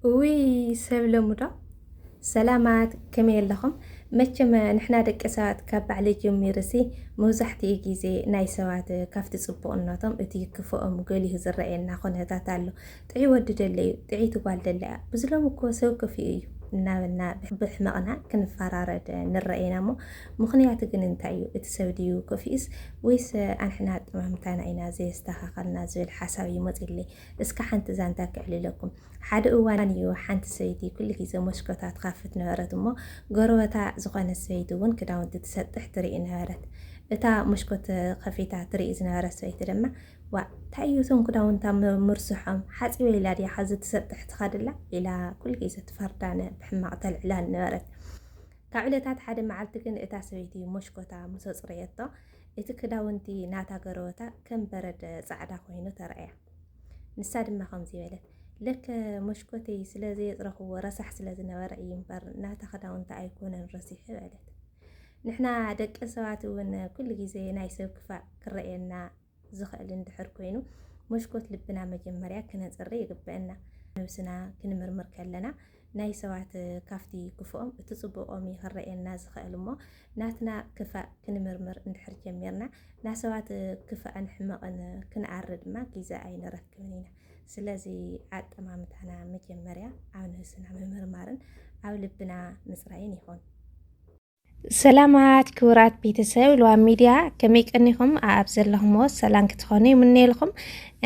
እውይ ሰብ ለሙዶ ሰላማት ከመይ ኣለኹም መቸመ ንሕና ደቂ ሰባት ካብ ባዕለይ ጀሚርሲ መብዛሕትኡ ግዜ ናይ ሰባት ካብቲ ጽቡቕነቶም እቲ ክፍኦም ገሊሁ ዝረኣየና ኩነታት ኣሎ ጥዑይ ወዲ ደለዩ ጥዕይቲ ጓል ደለያ ብዝሎም እኮ ሰብ ክፍኡ እዩ እናበልና ብሕመቕና ክንፈራረድ ንረአ ኢና እሞ ምኽንያቱ ግን እንታይ እዩ እቲ ሰብ ድዩ ክፍኢስ ወይስ ኣንሕና ኣጠማምታና ኢና ዘየስተኻኸልና ዝብል ሓሳብ እዩ መፂለይ እስከ ሓንቲ ዛንታ ክዕልለኩም። ሓደ እዋን እዩ ሓንቲ ሰበይቲ ኩሉ ግዜ ሞስኮታ ትካፍት ነበረት እሞ ጎረበታ ዝኾነት ሰበይቲ እውን ክዳውንቲ ትሰጥሕ ትርኢ ነበረት። እታ ሞስኮት ከፊታ ትርኢ ዝነበረት ሰበይቲ ድማ ዋ እንታይ እዩ እቶም ክዳውንታ ምርስሖም ሓፂበ ኢላ ድያ ሓዚ ትሰጥሕ ትኸድላ ኢላ ኩሉ ግዜ ትፈርዳነ ብሕማቕ ተልዕላን ነበረት። ካብ ዕለታት ሓደ መዓልቲ ግን እታ ሰበይቲ ሞሽኮታ ምስ ኣፅረየቶ እቲ ክዳውንቲ ናታ ገረወታ ከም በረድ ጻዕዳ ኮይኑ ተራእያ። ንሳ ድማ ከምዚ በለት፣ ለከ መሽኮተይ ስለ ዘየጽረኽዎ ረሳሕ ስለ ዝነበረ እዩ እምበር ናታ ክዳውንቲ ኣይኮነን ረሲሑ በለት። ንሕና ደቂ ሰባት እውን ኩሉ ግዜ ናይ ሰብ ክፋእ ክረኣየና ዝኽእል እንድሕር ኮይኑ መሽኮት ልብና መጀመርያ ክነጽሪ ይግበአና። ነብስና ክንምርምር ከለና ናይ ሰባት ካብቲ ክፍኦም እቲ ጽቡቆም እዩ ክረኤና ዝኸእል እሞ ናትና ክፋእ ክንምርምር እንድሕር ጀሚርና ናሰባት ክፋእን ሕመቕን ክንኣሪ ድማ ጊዘ ኣይንረክብን ኢና ስለዚ ኣጠማምታና መጀመርያ ኣብ ነብስና ምምርማርን ኣብ ልብና ምጽራይን ይኹን። ሰላማት ክቡራት ቤተሰብ ልዋ ሚድያ ከመይ ቀኒኹም ኣብ ዘለኹምዎ ሰላም ክትኾኑ ይምነየልኹም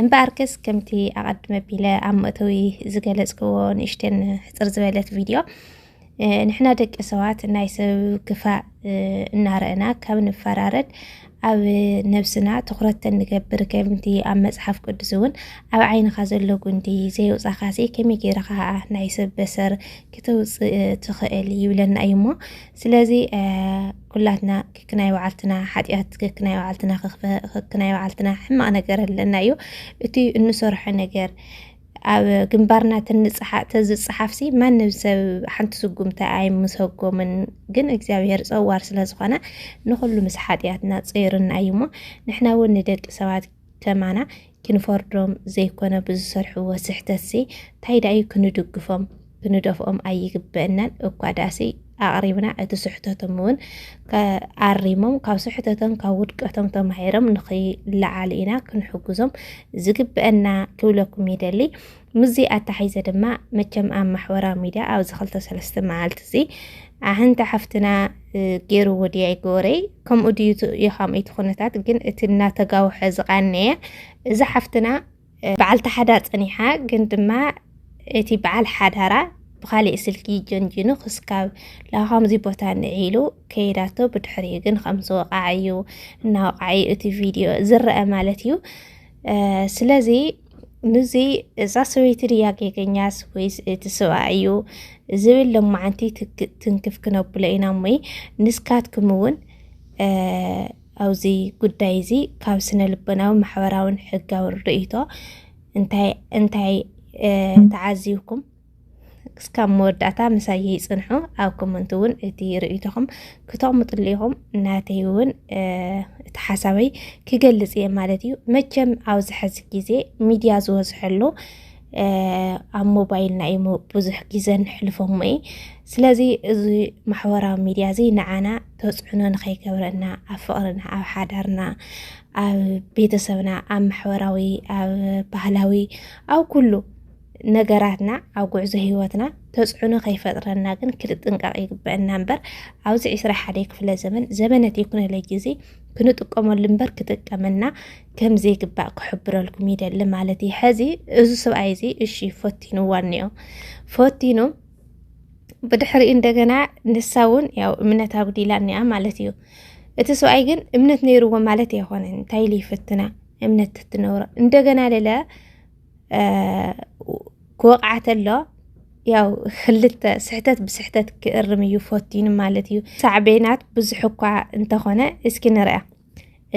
እምበኣርከስ ከምቲ ኣቐድመ ቢለ ኣብ መእተዊ ዝገለጽክዎ ንእሽተን ሕፅር ዝበለት ቪድዮ ንሕና ደቂ ሰባት ናይ ሰብ ክፋእ እናረእና ካብ ንፈራረድ ኣብ ነብስና ትኹረት ተንገብር ከምቲ ኣብ መጽሓፍ ቅዱስ እውን ኣብ ዓይንኻ ዘሎ ጉንዲ ዘየውፃኻሲ ከመይ ገይርኻ ናይ ሰብ በሰር ክተውፅእ ትኽእል ይብለና እዩ እሞ ስለዚ ኩላትና ክክናይ በዓልትና ሓጢኣት ክክናይ በዓልትና ክክናይ በዓልትና ሕማቕ ነገር ኣለና እዩ እቲ እንሰርሖ ነገር ኣብ ግንባርና ትንጽሓ ተዝጽሓፍሲ ማንም ሰብ ሓንቲ ስጉምቲ ኣይምሰጎምን ግን እግዚኣብሄር ጸዋር ስለ ዝኾነ ንኹሉ ምስ ሓጢኣትና ጸይርና እዩ እሞ ንሕና እውን ንደቂ ሰባት ከማና ክንፈርዶም ዘይኮነ ብዝሰርሕዎ ስሕተትሲ እንታይ ደኣዩ ክንድግፎም ክንደፍኦም ኣይግበእናን እኳ ዳእሲ ኣቕሪብና እቲ ስሕተቶም እውን ኣሪሞም ካብ ስሕተቶም ካብ ውድቀቶም ተማሂሮም ንኽለዓሉ ኢና ክንሕግዞም ዝግበአና ክብለኩም ይደሊ ምስዚ ኣታሓይዘ ድማ መቸም ኣብ ማሕበራዊ ሚድያ ኣብዚ ክልተ ሰለስተ መዓልቲ እዚ ኣህንተ ሓፍትና ገይሩ ወዲያ ይገበረይ ከምኡ ድዩ ኢኻም እቲ ኩነታት ግን እቲ እናተጋውሐ ዝቃነየ እዚ ሓፍትና በዓልቲ ሓዳር ጸኒሓ ግን ድማ እቲ በዓል ሓዳራ ብካሊእ ስልኪ ጀንጂኑ ክስካብ ላካምዚ ቦታ ንዒሉ ከይዳቶ ብድሕሪ ግን ከም ዝወቃዓ እዩ እናወቃዓ እዩ እቲ ቪድዮ ዝረአ ማለት እዩ ስለዚ ንዚ እዛ ሰበይቲ ድያ ጌገኛስ ወይስ እቲ ሰብኣ እዩ ዝብል ሎማዓንቲ ትንክፍ ክነብሎ ኢና እሞይ ንስካትኩም እውን ኣብዚ ጉዳይ እዚ ካብ ስነ ልቦናዊ ማሕበራውን ሕጋዊ ርእይቶ እንታይ እንታይ ተዓዚብኩም እስካብ መወዳእታ ምሳይ ይፅንሑ ኣብ ኮመንት እውን እቲ ርእይቶኹም ክተቕምጥሉ ኢኹም ናተይ እውን እቲ ሓሳበይ ክገልፅ እየ ማለት እዩ መቸም ኣብዚ ሕዚ ግዜ ሚድያ ዝበዝሐሉ ኣብ ሞባይልና እሞ ብዙሕ ግዘ ንሕልፎሞ እዩ ስለዚ እዚ ማሕበራዊ ሚድያ እዚ ንዓና ተፅዕኖ ንከይገብረና ኣብ ፍቅርና ኣብ ሓዳርና ኣብ ቤተሰብና ኣብ ማሕበራዊ ኣብ ባህላዊ ኣብ ኩሉ ነገራትና ኣብ ጉዕዞ ሂወትና ተፅዕኖ ከይፈጥረና ግን ክንጥንቀቅ ይግበአና እምበር ኣብዚ ዕስራ ሓደ ክፍለ ዘመን ዘመነ ቴክኖሎጂ እዚ ክንጥቀመሉ እምበር ክጥቀመና ከም ዘይግባእ ክሕብረልኩም ይደሊ ማለት እዩ ሕዚ እዚ ሰብኣይ እዚ እሺ ፈቲንዋ እኒኦ ፈቲኑ ብድሕሪ እንደገና ንሳ እውን ያው እምነት ኣጉዲላ እኒኣ ማለት እዩ እቲ ሰብኣይ ግን እምነት ነይርዎ ማለት የኮነ እንታይ ኢሉ ይፍትና እምነት ትትነብሮ እንደገና ልለ ክወቕዓ ተሎ ያው ክልተ ስሕተት ብስሕተት ክእርም እዩ ፈቲኑ ማለት እዩ ሳዕቤናት ብዙሕ እኳ እንተኾነ እስኪ ንርያ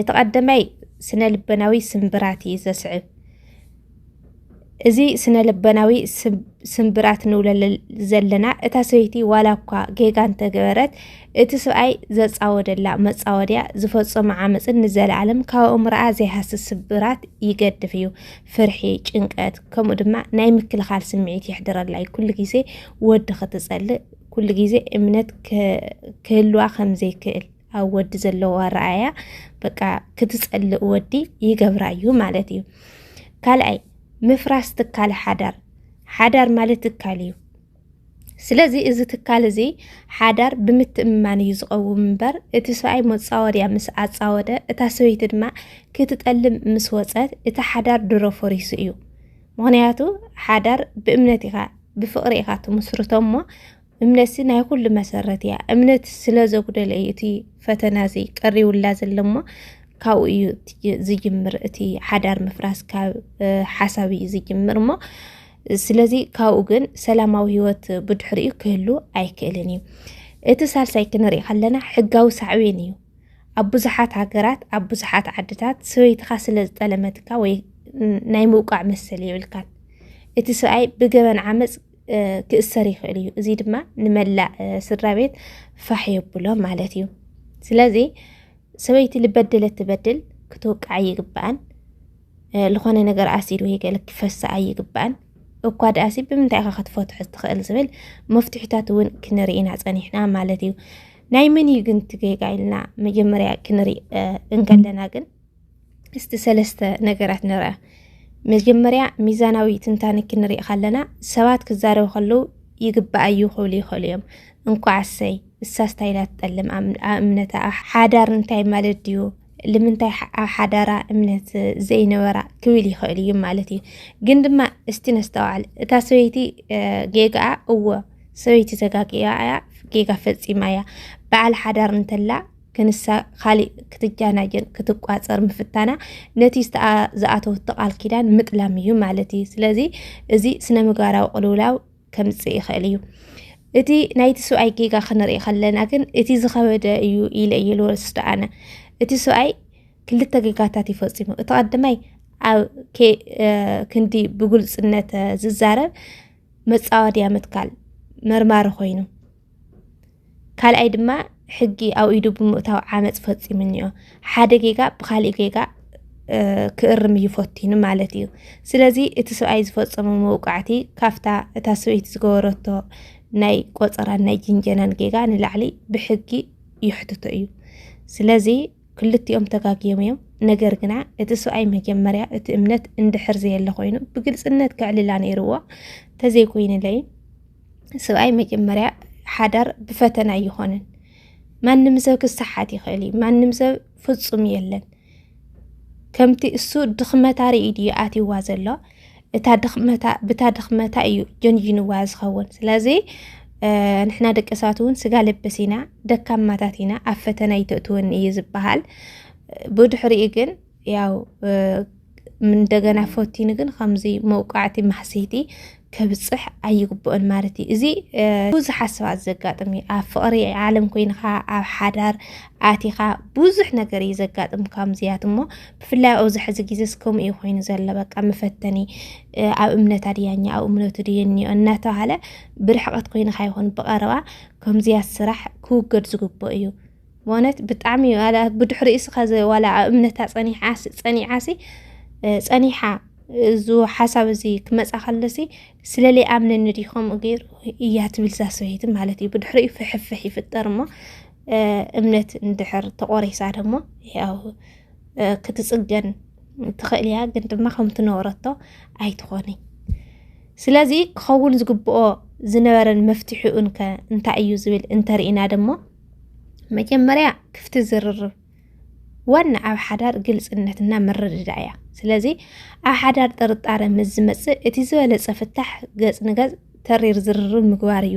እቲ ቀደማይ ስነ ልበናዊ ስምብራት እዩ ዘስዕብ። እዚ ስነ ልበናዊ ስምብራት ንብሎ ዘለና እታ ሰበይቲ ዋላ እኳ ጌጋ እንተገበረት እቲ ሰብኣይ ዘፃወደላ መፃወድያ ዝፈፀሞ ዓመፅን ንዘለኣለም ካብ ኣእምሮኣ ዘይሃሲ ስብራት ይገድፍ እዩ። ፍርሒ፣ ጭንቀት ከምኡ ድማ ናይ ምክልኻል ስምዒት የሕድረላ እዩ። ኩሉ ግዜ ወዲ ክትፀልእ ኩሉ ግዜ እምነት ክህልዋ ከምዘይክእል ኣብ ወዲ ዘለዎ ኣረኣያ በቃ ክትፀልእ ወዲ ይገብራ እዩ ማለት እዩ። ካልኣይ ምፍራስ ትካል ሓዳር፣ ሓዳር ማለት ትካል እዩ። ስለዚ እዚ ትካል እዚ ሓዳር ብምትእምማን እዩ ዝቐውም እምበር እቲ ሰብኣይ መፃወድያ ምስ ኣፃወደ እታ ሰበይቲ ድማ ክትጠልም ምስ ወፀት እቲ ሓዳር ድሮ ፈሪሱ እዩ። ምክንያቱ ሓዳር ብእምነት ኢኻ ብፍቕሪ ኢኻ ትምስርቶ እሞ እምነትሲ ናይ ኩሉ መሰረት እያ እምነት ስለ ዘጉደለ እዩ እቲ ፈተና እዚ ቀሪውላ ዘሎ እሞ ካብኡ እዩ ዝጅምር እቲ ሓዳር ምፍራስ ካብ ሓሳብ እዩ ዝጅምር እሞ ስለዚ ካብኡ ግን ሰላማዊ ህይወት ብድሕሪኡ ክህሉ ኣይክእልን እዩ እቲ ሳልሳይ ክንሪኢ ከለና ሕጋዊ ሳዕቤን እዩ ኣብ ብዙሓት ሃገራት ኣብ ብዙሓት ዓድታት ሰበይትኻ ስለ ዝጠለመትካ ወይ ናይ ምውቃዕ መሰል የብልካን እቲ ሰብኣይ ብገበን ዓመፅ ክእሰር ይኽእል እዩ። እዚ ድማ ንመላእ ስድራ ቤት ፋሕ የብሎ ማለት እዩ። ስለዚ ሰበይቲ ልበደለት ትበድል ክትወቅዓ ይግባኣን ዝኾነ ነገር ኣሲድ ወይ ገለ ክፈሳ ኣይግባኣን። እኳ ደኣሲ ብምንታይ ኢኻ ክትፈትሖ ትኽእል ዝብል መፍትሒታት እውን ክንርኢና ፀኒሕና ማለት እዩ። ናይ መን እዩ ግን ትጌጋ ኢልና መጀመርያ ክንርኢ እንከለና ግን እስቲ ሰለስተ ነገራት ንርአ። መጀመርያ ሚዛናዊ ትንታነ ክንርኢ ከለና ሰባት ክዛረቡ ከለዉ ይግባእ እዩ ክብሉ ይኽእሉ እዮም። እንኳዕ እሰይ እሳ ስታይላ ትጠልም እምነታ ሓዳር እንታይ ማለት ድዩ ልምንታይ ኣብ ሓዳራ እምነት ዘይነበራ ክብል ይኽእል እዩ ማለት እዩ። ግን ድማ እስቲ ነስተውዓል እታ ሰበይቲ ጌጋኣ እወ ሰበይቲ ተጋጊኣ እያ ጌጋ ፈፂማ እያ በዓል ሓዳር እንተላ ክንሳ ካሊእ ክትጃናጀን ክትቋፀር ምፍታና ነቲ ዝኣተወቶ ቃል ኪዳን ምጥላም እዩ ማለት እዩ። ስለዚ እዚ ስነ ምግባራዊ ቅልውላው ከምፅእ ይኽእል እዩ። እቲ ናይቲ ሰብኣይ ጌጋ ክንርኢ ከለና ግን እቲ ዝኸበደ እዩ ኢለ እዩ ልወስዶ ኣነ። እቲ ሰብኣይ ክልተ ጌጋታት እዩ ፈፂሙ። እቲ ቀዳማይ ኣብ ክንዲ ብግልፅነት ዝዛረብ መፃወድያ ምትካል መርማሪ ኮይኑ ካልኣይ ድማ ሕጊ ኣብ ኢዱ ብምእታው ዓመፅ ፈፂሙ እኒኦ ሓደ ጌጋ ብካሊእ ጌጋ ክእርም እዩ ፈቲኑ ማለት እዩ ስለዚ እቲ ሰብኣይ ዝፈፀሙ መውቃዕቲ ካፍታ እታ ሰበይቲ ዝገበረቶ ናይ ቆፀራን ናይ ጅንጀናን ጌጋ ንላዕሊ ብሕጊ ይሕትቶ እዩ ስለዚ ክልቲኦም ተጋጊዮም እዮም ነገር ግና እቲ ሰብኣይ መጀመርያ እቲ እምነት እንድሕር ዘየለ ኮይኑ ብግልፅነት ከዕልላ ነይርዎ ተዘይኮይንለይ ስብኣይ መጀመርያ ሓዳር ብፈተና ኣይኾነን። ማንም ሰብ ክሰሓት ይኽእል እዩ። ማንም ሰብ ፍፁም የለን። ከምቲ እሱ ድኽመታ ርእዩ ድዩ ኣትይዋ ዘሎ እታ ድኽመታ ብታ ድኽመታ እዩ ጀንጅንዋ ዝኸውን። ስለዚ ንሕና ደቂ ሰባት እውን ስጋ ልብስ ኢና፣ ደካማታት ኢና፣ ኣብ ፈተና ይተእትወኒ እዩ ዝበሃል። ብድሕሪኡ ግን ያው እንደገና ፈቲኑ ግን ከምዚ መውቃዕቲ ማሕሰይቲ ከብፅሕ ኣይግብኦን ማለት እዩ እዚ ብዙሕ ሓስባት ዘጋጥም እዩ ኣብ ፍቕሪ ዓለም ኮይንካ ኣብ ሓዳር ኣቲኻ ብዙሕ ነገር እዩ ዘጋጥም ከምዚያት እሞ ብፍላይ ኣብዚ ሕዚ ግዜ ከምኡ እዩ ኮይኑ ዘሎ በቃ መፈተኒ ኣብ እምነት ኣድያኛ ኣብ እምነቱ ድየኒዮ እናተባሃለ ብርሕቐት ኮይንካ ይኹን ብቐረባ ከምዚያት ስራሕ ክውገድ ዝግብኦ እዩ ወነት ብጣዕሚ እዩ ኣላ ብድሕሪ እስኻ ዋላ እምነታ ፀኒሓስ ፀኒዓሲ ፀኒሓ እዚ ሓሳብ እዚ ክመፃ ከለሲ ስለለይ ኣምነኒ ድዩ ከምኡ ገይሩ እያ ትብል እዛ ሰበይቲ ማለት እዩ ብድሕሪኡ ፍሕፍሕ ይፍጠር እሞ እምነት እንድሕር ተቆሪሳ ደሞ ያው ክትፅገን ትኽእል እያ ግን ድማ ከም ትነበረቶ ኣይትኾኒ ስለዚ ክኸውን ዝግብኦ ዝነበረን መፍትሒኡን ከ እንታይ እዩ ዝብል እንተርኢና ደሞ መጀመርያ ክፍቲ ዝርርብ ዋና ኣብ ሓዳር ግልፅነትና ምርድዳእ እያ ስለዚ ኣብ ሓዳር ጥርጣረ ምስ ዝመፅእ እቲ ዝበለፀ ፍታሕ ገፅ ንገፅ ተሪር ዝርርብ ምግባር እዩ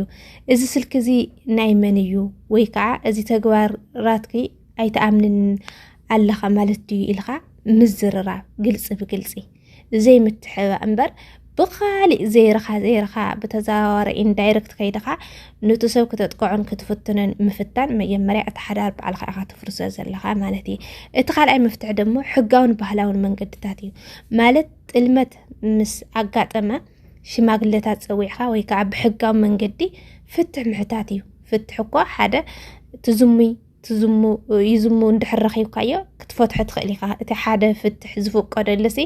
እዚ ስልኪ እዚ ናይ መን እዩ ወይ ከዓ እዚ ተግባራትኪ ኣይተኣምንን ኣለኻ ማለት ድዩ ኢልካ ምዝርራብ ግልፂ ብግልፂ ዘይምትሕባእ እምበር ብኻሊእ ዘይርኻ ዘይርኻ ብተዘዋዋሪ ኢንዳይረክት ከይድኻ ኑቲ ሰብ ክተጥቅዖን ክትፍትንን ምፍታን መጀመርያ እቲ ሓዳር በዓልካ ኢኻ ትፍርሶ ዘለኻ ማለት እዩ እቲ ካልኣይ መፍትሒ ደሞ ሕጋውን ባህላውን መንገድታት እዩ ማለት ጥልመት ምስ ኣጋጠመ ሽማግለታት ፀዊዕኻ ወይ ከዓ ብሕጋዊ መንገዲ ፍትሕ ምሕታት እዩ ፍትሕ እኮ ሓደ ትዝሙይ ይዝሙ እንድሕር ረኺብካዮ ክትፈትሖ ትኽእል ኢኻ እቲ ሓደ ፍትሕ ዝፍቀደሉ ሲ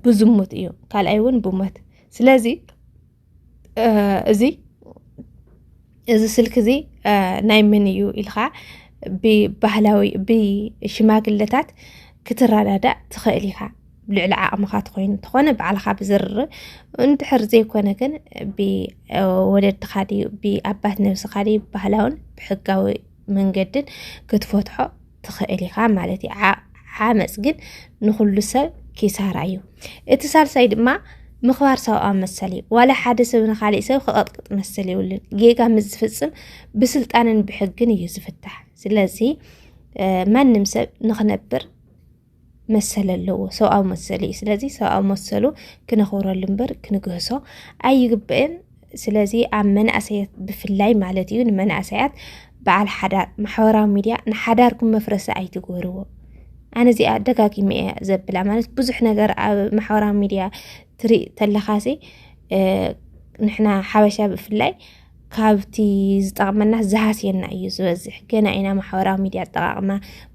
ብዙሙት እዩ ካልኣይ እውን ብሞት ስለዚ እዚ እዚ ስልኪ እዚ ናይ ምን እዩ ኢልካ ብባህላዊ ብሽማግለታት ክትረዳዳእ ትኽእል ኢኻ ልዕሊ ዓቕምኻ ትኾይኑ እንተኾነ ባዕልኻ ብዝርር እንድሕር ዘይኮነ ግን ብወለድኻ ድዩ ብኣባት ነብስኻ ድዩ ባህላውን ብሕጋዊ መንገድን ክትፈትሖ ትኽእል ኢኻ ማለት እዩ ዓመፅ ግን ንኹሉ ሰብ ኪሳራ እዩ እቲ ሳልሳይ ድማ ምኽባር ሰብኣዊ መሰል እዩ ዋላ ሓደ ሰብ ንካሊእ ሰብ ክቐጥቅጥ መሰል የብሉን ጌጋ ምስ ዝፍፅም ብስልጣንን ብሕግን እዩ ዝፍታሕ ስለዚ ማንም ሰብ ንኽነብር መሰል ኣለዎ ሰብኣዊ መሰል እዩ ስለዚ ሰብኣዊ መሰሉ ክነኽብረሉ እምበር ክንግህሶ ኣይግበእን ስለዚ ኣብ መናእሰያት ብፍላይ ማለት እዩ ንመናእሰያት በዓል ሓዳር ማሕበራዊ ሚድያ ንሓዳርኩም መፍረሲ ኣይትግበርዎ ኣነ እዚኣ ደጋጊመ እያ ዘብላ ማለት ብዙሕ ነገር ኣብ ማሕበራዊ ሚድያ ትርኢ ተለኻሲ ንሕና ሓበሻ ብፍላይ ካብቲ ዝጠቕመናስ ዝሃስየና እዩ ዝበዝሕ። ገና ኢና ማሕበራዊ ሚድያ ኣጠቃቕማ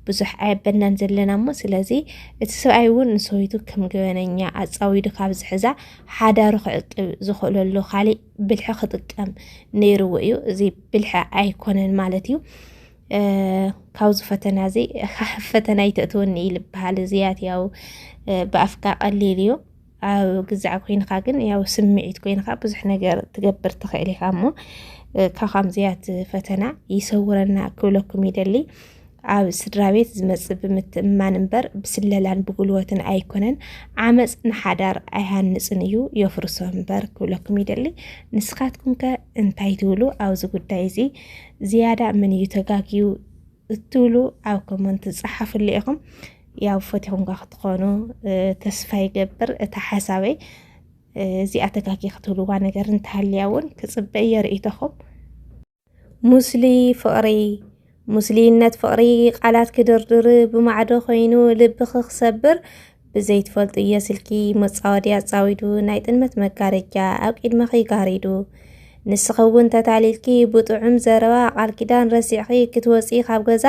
ብዙሕ ኣየበናን ዘለና እሞ ስለዚ እቲ ሰብኣይ እውን ንሰበይቱ ከም ገበነኛ ኣፃዊዱ ካብ ዝሕዛ ሓዳሩ ክዕቅብ ዝኽእለሉ ካሊእ ብልሒ ክጥቀም ነይርዎ እዩ። እዚ ብልሒ ኣይኮነን ማለት እዩ። ካብዚ ፈተና እዚ ፈተና ይተእትወኒ እዩ ዝበሃል እዚያት ያው ብኣፍካ ቀሊል እዩ ኣብ ግዛዕ ኮይንካ ግን ያው ስምዒት ኮይንካ ብዙሕ ነገር ትገብር ትኽእል ኢኻ እሞ ካብ ከምዚያት ፈተና ይሰውረና ክብለኩም ይደሊ። ኣብ ስድራ ቤት ዝመፅእ ብምትእምማን እምበር ብስለላን ብጉልበትን ኣይኮነን። ዓመፅ ንሓዳር ኣይሃንፅን እዩ የፍርሶ እምበር ክብለኩም ይደሊ። ንስኻትኩም ከ እንታይ ትብሉ ኣብዚ ጉዳይ እዚ ዝያዳ መን እዩ ተጋግዩ? እትብሉ ኣብ ኮመንት ጸሓፍሉ ኢኹም ያው ፈቲኹም ጋ ክትኾኑ ተስፋ ይገብር እታ ሓሳበይ እዚኣ ተጋጊ ክትብልዋ ነገር እንተሃልያ እውን ክፅበ እየ ርእይቶኹም ሙስሊ ፍቕሪ ሙስሊነት ፍቕሪ ቃላት ክድርድር ብማዕዶ ኮይኑ ልብኺ ክሰብር ብዘይትፈልጡ እየ ስልኪ መጻወዲ ኣጻዊዱ ናይ ጥልመት መጋረጃ ኣብ ቂድመኺ ጋሪዱ ንስኺ እውን ተታሊልኪ ብጥዑም ዘረባ ቃል ኪዳን ረሲዕኺ ክትወፂ ካብ ገዛ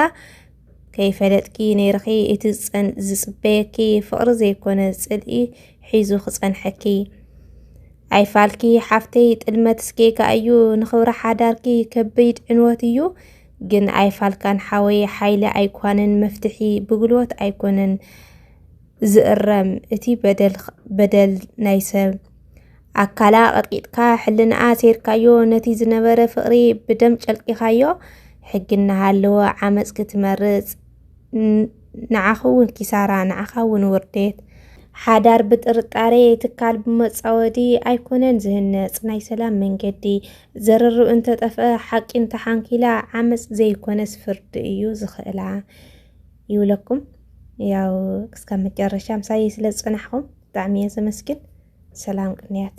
ከይፈለጥኪ ነይርኺ እቲ ዝፅበየኪ ፍቕሪ ዘይኮነ ፅልኢ ሒዙ ክፀንሐኪ ኣይፋልኪ ሓፍተይ ጥልመት ስጌጋ እዩ ንኽብሪ ሓዳርኪ ከቢድ ዕንወት እዩ ግን ኣይፋልካን ሓወይ ሓይሊ ኣይኳንን መፍትሒ ብግልወት ኣይኮነን ዝእረም እቲ በደል ናይ ሰብ ኣካላ ቀጥቂጥካ ሕልንኣ ሴርካዮ ነቲ ዝነበረ ፍቕሪ ብደም ጨልቂኻዮ ሕጊ እናሃለወ ዓመፅ ክትመርፅ ንዓኺ እውን ኪሳራ ንዓኻ እውን ውርዴት ሓዳር ብጥርጣሬ ትካል ብመፃወዲ ኣይኮነን ዝህነፅ ናይ ሰላም መንገዲ ዘርርብ እንተጠፍኣ ሓቂ እንተሓንኪላ ዓመፅ ዘይኮነስ ፍርዲ እዩ ዝኽእላ ይብለኩም። ያው እስካብ መጨረሻ ምሳይ ስለ ዝፀናሕኹም ብጣዕሚ እየ ዘመስግን። ሰላም ቅንያት